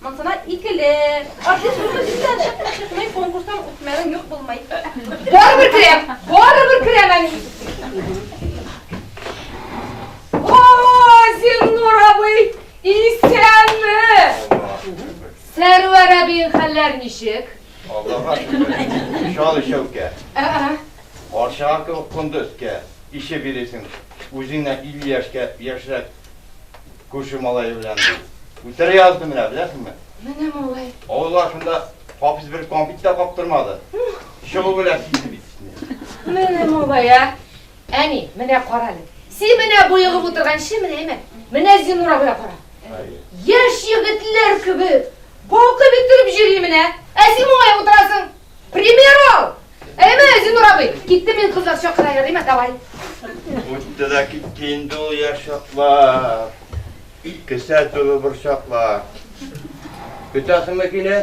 Монсына икеле. Артист булса дисәң, чыкмый, чыкмый, конкурстан үтмәвең юк булмый. Барыбер керәм, барыбер керәм әни. О, Зиннур абый, исәнме? Сәрвәр әбиең хәлләр ничек? Аллага шөкер. Шал ишәүкә. Арчага кебек конды өскә. Ише биресең. Үзеңнән 50 яшькә яшьрәк Күрше малае белән. Үтерә язды менә, беләсеңме? Менә малай. Авыл башында хапис бер компит та каптырмады. Чыгу белән сизде бит. Менә малай, ә? Әни, менә кара әле. Син менә буегып утырган чи менә әйме? Менә Зинур абыйга кара. Яшь егетләр кебек балкып иттереп йөри менә. Ә син моңаеп утырасың. Пример ал! Әйме, Зинур абый, китте мин кызлар чакыра ярыйма, давай. Үтте дә китте инде ул яшь чаклар. Кесә тулы борчаклар. Көтәсеңме киле?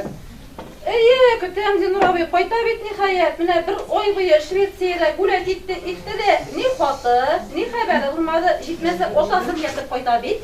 Әйе, көтәм, Зинур абый, кайта бит ниһаять. Менә бер ай буе Швециядә гүлә китте, итте дә, ни хаты, ни хәбәре булмады, җитмәсә, атасын ятып кайта бит.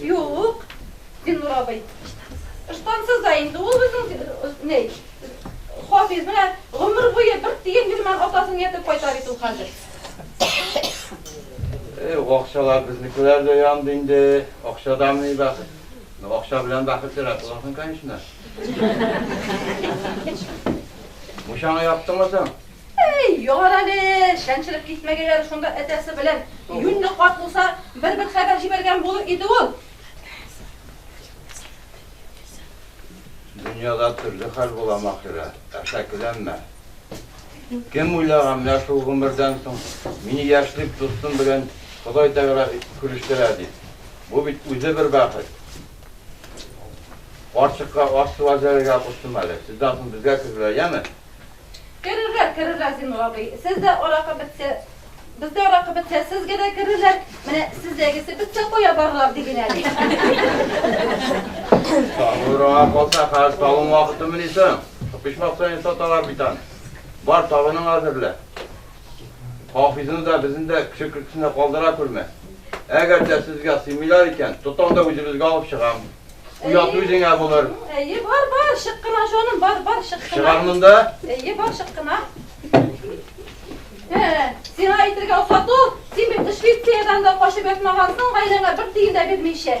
Юк, Зиннур абый. Ыштансыз да инде ул үзең ни, Хафиз менә гомер буе бер тиен бирмән атасын ятып кайта бит ул хәзер. Э, акчалар безнекеләр дә янды инде. Акчадан ни бәхет. Ну, акча белән бәхет сирәк буласың, конечно. Мушаңа яптымы соң? Әй, яр әле, чәнчелеп китмәгәйләре шунда әтәсе белән. Юньле карт булса, бер-бер хәбәр җибәргән булыр иде ул. Дөньяда төрле хәл була, Маһирә, әшәкеләнмә. Кем уйлаган менә шул гомердән соң мине яшьлек дустым белән Ходай Тәгалә күрештерә дип. Бу бит үзе бер бәхет. Карчыкка аш-су әзерләргә куштым әле. Сездән соң безгә кергәләр, яме? Керерләр, керерләр, Зиннур абый. Сез дә аракы бетсә, без дә аракы бетсә, сезгә дә керерләр. Менә сездәгесе бетсә кая барырлар ди генә. Табыра калса хәзер табын вакыты мени соң? Почмак саен саталар бит аны. Бар, табының әзерлә. Хафизны да, безне дә кеше көлкесенә калдыра күрмә. Әгәр дә сезгә сыймыйлар икән, тотам да үзебезгә алып чыгам. Уят үзеңә булыр. Әйе, бар, бар, чык кына, җаным, бар, бар, чык кына. Чыгар монда. Әйе, бар, чык кына. Сиңа әйтергә офату, син бит эшли, сиядән дә качып ятмагансың, гаиләңә бер тиен дә бирмичә.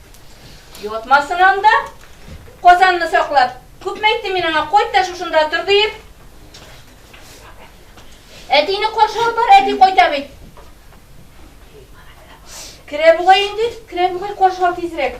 Йотмасын анда. Казанны саклап. Күпме әйттем мин аңа, кайт та шушында тор диеп. Әтине каршы алып бар, әти кайта бит. Керә бугай инде, керә бугай каршы ал тизрәк.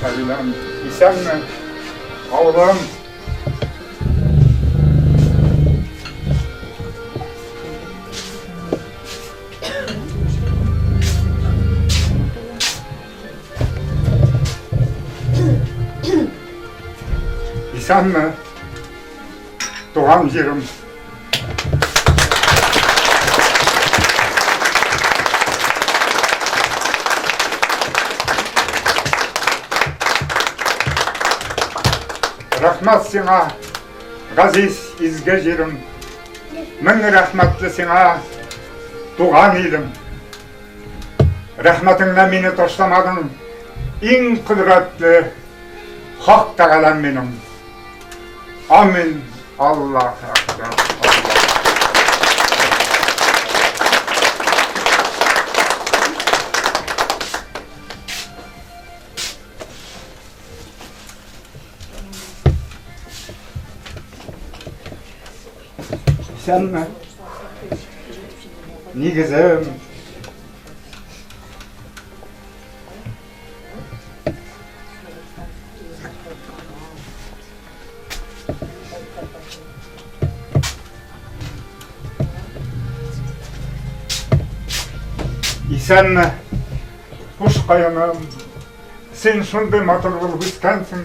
Сәбиләм, исәнме? Авылым! Исәнме? Туган җирем. Рәхмәт сиңа, газиз изге җирем. Мең рәхмәтле сиңа, туган илем. Рәхмәтеңнән мине ташламадың, иң кодрәтле Хак Тәгаләм минем. Амин. Аллах Акбар. Исәнме? Нигезем. Исәнме, хуш каеным, син шундый матур булып үскәнсең.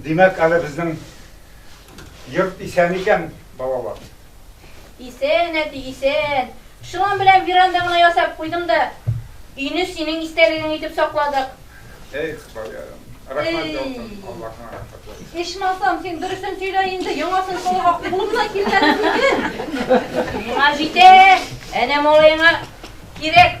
Димәк, әле безнең йорт исән икән, балалар. Исән, әти, исән. Шылан белән веранда гына ясап куйдым да, өйне синең истәлегең итеп сакладык. Эй, Хыбаярым. Рәхмәт яусын, Аллаһына рәхмәт яусын. Ичмасам, син дөресен сөйлә инде, яңасын салырга кулым да килмәде бүген. Миңа җитә, әнә малаеңа кирәк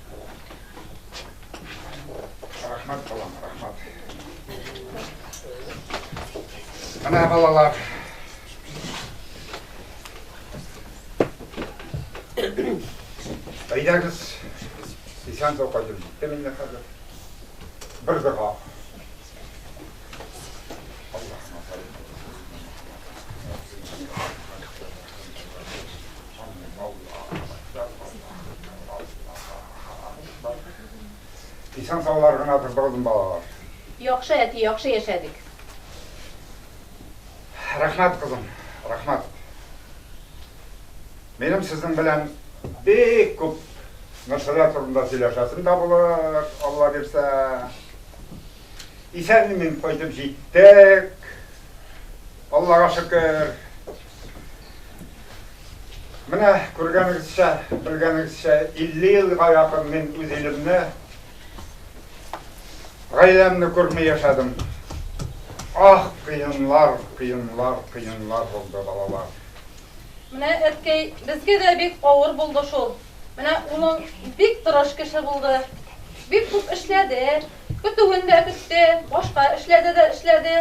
Рәхмәт, балам, рәхмәт. Менә балалар. Әйдәгез, исән сау кайтып җитте мине хәзер. Бер дога. Исән саулар гына тырбалдым балалар. Яхшы әти, яхшы яшәдек. Рәхмәт кызым, рәхмәт. Минем сезнең белән бик күп нәрсәләр турында сөйләшәсем дә булыр, Алла бирсә. Исән-имин кайтып җиттек. Аллага шөкер. Менә күргәнегезчә, белгәнегезчә, 50 елга якын мин үз илемне, гаиләмне күрми яшәдем. Ах, кыенлар, кыенлар, кыенлар булды, балалар. Менә әткәй, безгә дә бик авыр булды шул. Менә улың бик тырыш кеше булды. Бик күп эшләде, Көтүен дә көтте, башка эшләрдә дә эшләде.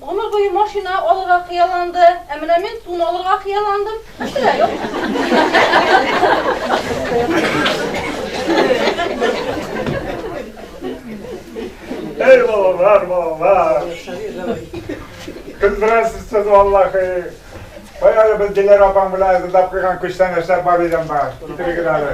Гомер буе машина алырга хыялланды, ә менә мин тун алырга хыялландым, мәсьәлә юк. Әй балалар, балалар! Көлдерәсез сез, валлахи! Кая әле без Диләрә апаң белән әзерләп куйган күчтәнәчләр бар идем бар, китерегез әле.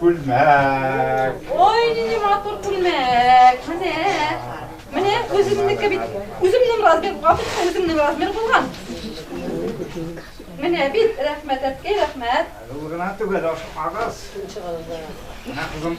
Күлмәк. Ой, нинди матур күлмәк. Менә. Менә үземнеке бит. Үземнең размер, капыска үземнең размер булган. Менә бит, рәхмәт, әткәй, рәхмәт. Ул гына түгел, ашыкмагыз. Менә кызым.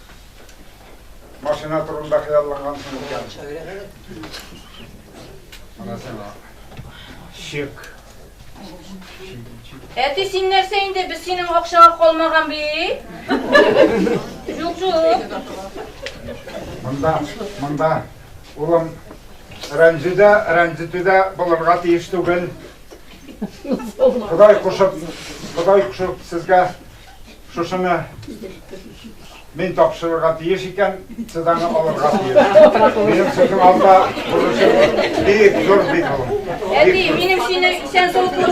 Машина турында хыяллангансың икән. Менә сиңа. Чек. Әти, син нәрсә инде? Без синең акчага калмаган бит. Юк, юк. Монда, монда. Улым, рәнҗүдә, рәнҗетүдә булырга тиеш түгел. Ходай кушып, Ходай кушып сезгә Шушыны мин тапшырырга тиеш икән, сез аны алырга тиеш. Минем сезнең алда бурычым бик зур бит ул. Әти, минем сине исән сау күрү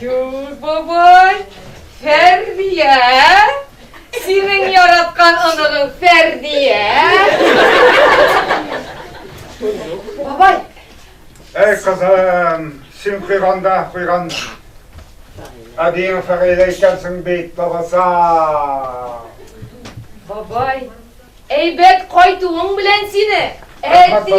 Юк, бабай, Фәрдия, синең яраткан оныгың Фәрдия. Бабай. Әй, кызым, син куйганда куйган әбиең фәгыйлә икәнсең бит, бабаса. Бабай, Әйбәт кайтуың белән сине, әти!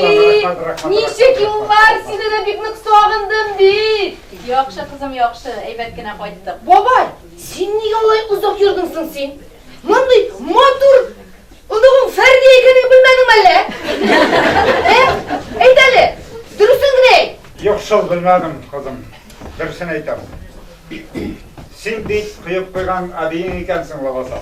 Ничек юллар, сине дә бик нык сагындым бит! Яхшы, кызым, яхшы, әйбәт кенә кайттык. Бабай, син нигә алай озак йөрдең соң син? Мондый матур оныгың Фәрдия икәнен белмәдеңме әллә? Ә? Әйт әле, дөресен генә әйт. Юк, шул белмәдем, кызым. Дөресен әйтәм. Син бит коеп куйган әбиең икәнсең лабаса.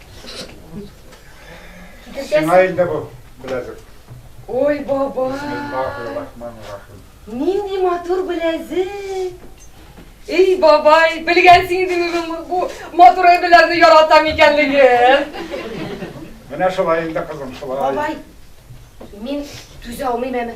Сиңа инде бу беләзек. Ой, баба. Бисмиллахир-рахманир-рахим. Нинди матур беләзек. Эй, бабай, белгәнсең инде минем бу матур әйберләрне яратам икәнлеген. Менә шулай инде, кызым, шулай. Бабай, мин түзә алмыйм әме.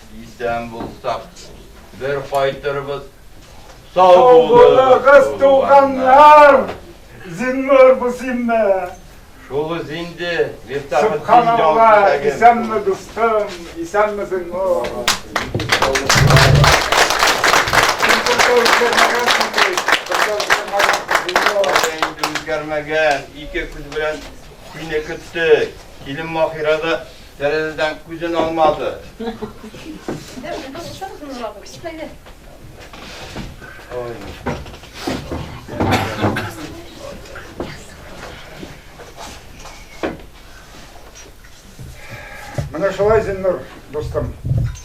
Исән булсак, бер кайтырбыз. Сау булыгыз, туганнар! Зиннур бу синме? Шулыз инде, Мифтах Субханалла, исәнме дустым, исәнме Зиннур? Үзгәрмәгән, ике күз белән сине көттек. Килен Махирада Тәрәзәдән күзен алмады. Менә шулай, Зиннур дустым,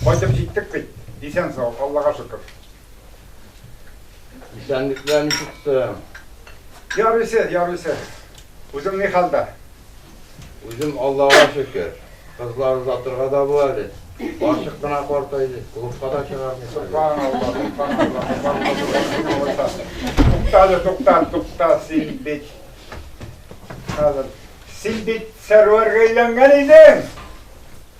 кайтып җиттек бит, исән-сау, Аллага шөкер. Исәнлекләр ничек соң? Ярыйсы, ярыйсы. Үзең ни хәлдә? Үзем Аллага шөкер. Кызлар озатырга да бу әле. Карчык кына картайды, клубка да чыгармый. Субханалла, субханалла. Туктале, тукта, тукта, син бит. Хәзер. Син бит сәрвәргә әйләнгән идең.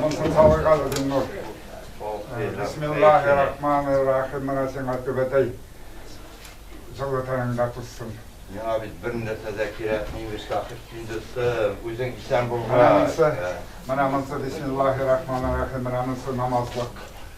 Монсын салыйк әле, Зиннур. Бисмиллаһи-рахмани-рахим. Менә сиңа түбәтәй җылытаеңда тузсын. Миңа бит бер нәрсә дә кирәкми, имеш, Сәхип син дустым. Үзең исән булгач. Менә монсы, менә монсы, бисмиллаһи-рахмани-рахим. Менә монсы намазлык.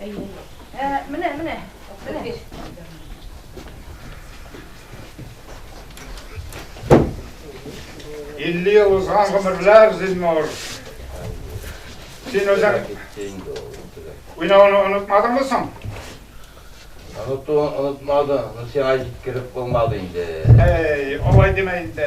Әйе. Ә, менә, менә. Менә. Илле ел узган гомерләр, Зиннур. Син үзең уйнауны онытмадыңмы соң? Онытуын онытмады, но сиңа җиткереп булмады инде. Әй, алай деме инде.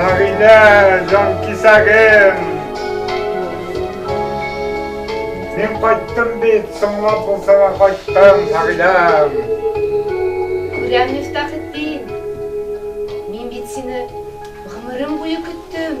Әгидә, жан кисәгем. Мин кайттым бит, соңлап булса да кайттым, Әгидәм. Күрәм, Мифтахетдин. Мин бит сине гомерем буе көттем.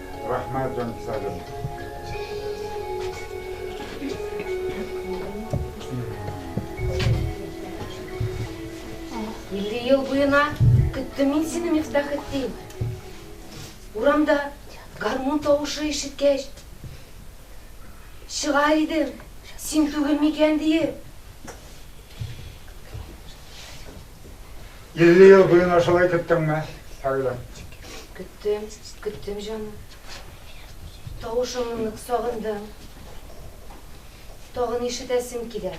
Рәхмәт, җанкисәгем. Илле ел буена көттем мин сине, Мифтахетдин. Урамда гармун тавышы ишеткәч, чыгар идем, син түгел микән диеп. 50 ел буена шулай көттеңме, Фәгилә? Көттем, көттем җаным. Тавышыңны сагындым. Тагын ишетәсем килә.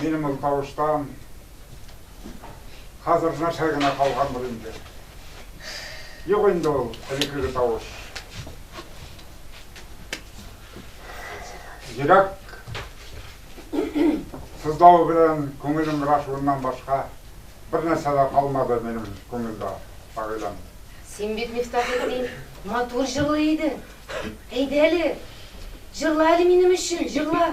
Минем ул тавыштан хәзер нәрсә генә калган бул инде. Юк инде ул элеккеге тавыш. Йөрәк сызлавы белән күңелем грашуыннан башка бер нәрсә дә калмады минем күңелдә, Фагыйләм. Син бит, Мифтахетдин, матур җырлый идең. Әйдә әле, җырла әле минем өчен, җырла.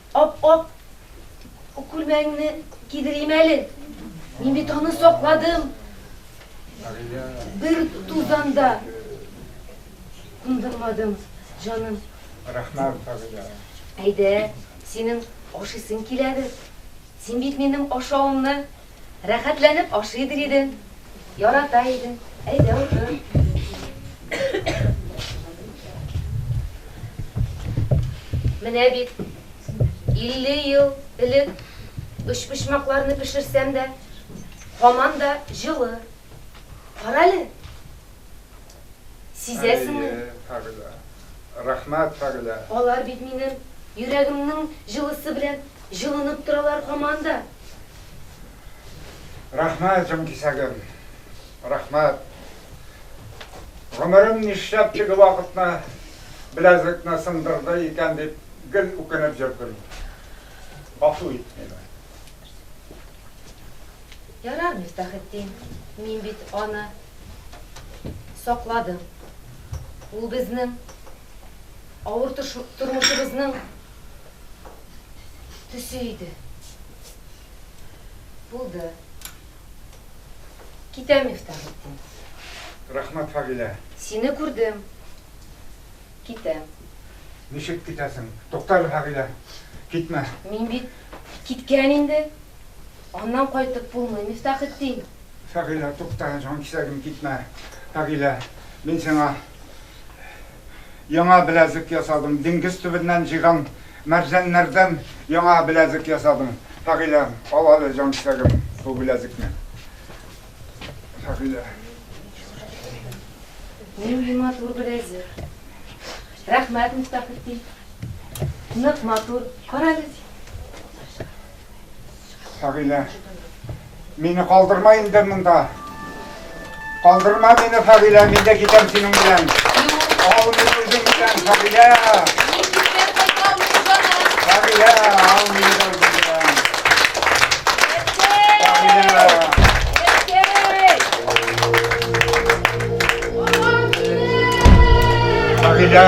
Ап-ак күлмәгеңне кидерим әле. Мин бит аны сакладым. Бер тузанда кундырмадым, җаным. Рәхмәт, Фагыйлә. Әйдә, синең ашыйсың киләдер. Син бит минем ашавымны Рәхәтләнеп ашыйдыр иде, ярата иде. Әйдә утыр. Менә бит, 50 ел элек өчпочмакларны пешерсәм дә, һаман да җылы. Карале. Сизәсеңме? Әйе, Фәгыйлә. Рәхмәт, Фәгыйлә. Алар бит минем йөрәгемнең җылысы белән җылынып торалар һаман да. Рәхмәт, җанкисәгем. Рәхмәт. Гомерем нишләп теге вакытны беләзекне сындырды икән дип гел үкенеп йөрдем. Гафу ит мине. Ярар, Мифтахетдин, мин бит аны сакладым. Ул безнең авыр тормышыбызның төсе иде. Булды. Китәм, Мифтахетдин. Рәхмәт, Фагилә. Сине күрдем. Китәм. Ничек китәсең? Туктале, Фагилә, китмә. Мин бит киткән инде. Аннан кайтып булмый, Мифтахетдин! Фәгыйлә, тукта, җанкисәгем, китмә! Фәгыйлә, мин сиңа яңа беләзек ясадым, диңгез төбеннән җыйган мәрҗәннәрдән яңа беләзек ясадым. Фәгыйлә, ал әле, җанкисәгем, бу беләзекне. Фәгыйлә. Нинди матур беләзек. Рәхмәт, Мифтахетдин. Нык матур. Кара әле. Фәгыйлә. Мине калдырма инде монда. Калдырма мине, Фәгыйлә, мин дә китәм синең белән. Ал мине үзең белән, Фәгыйлә. Фәгыйлә, ал мине дә үзең белән. Фәгыйлә. Фәгыйлә.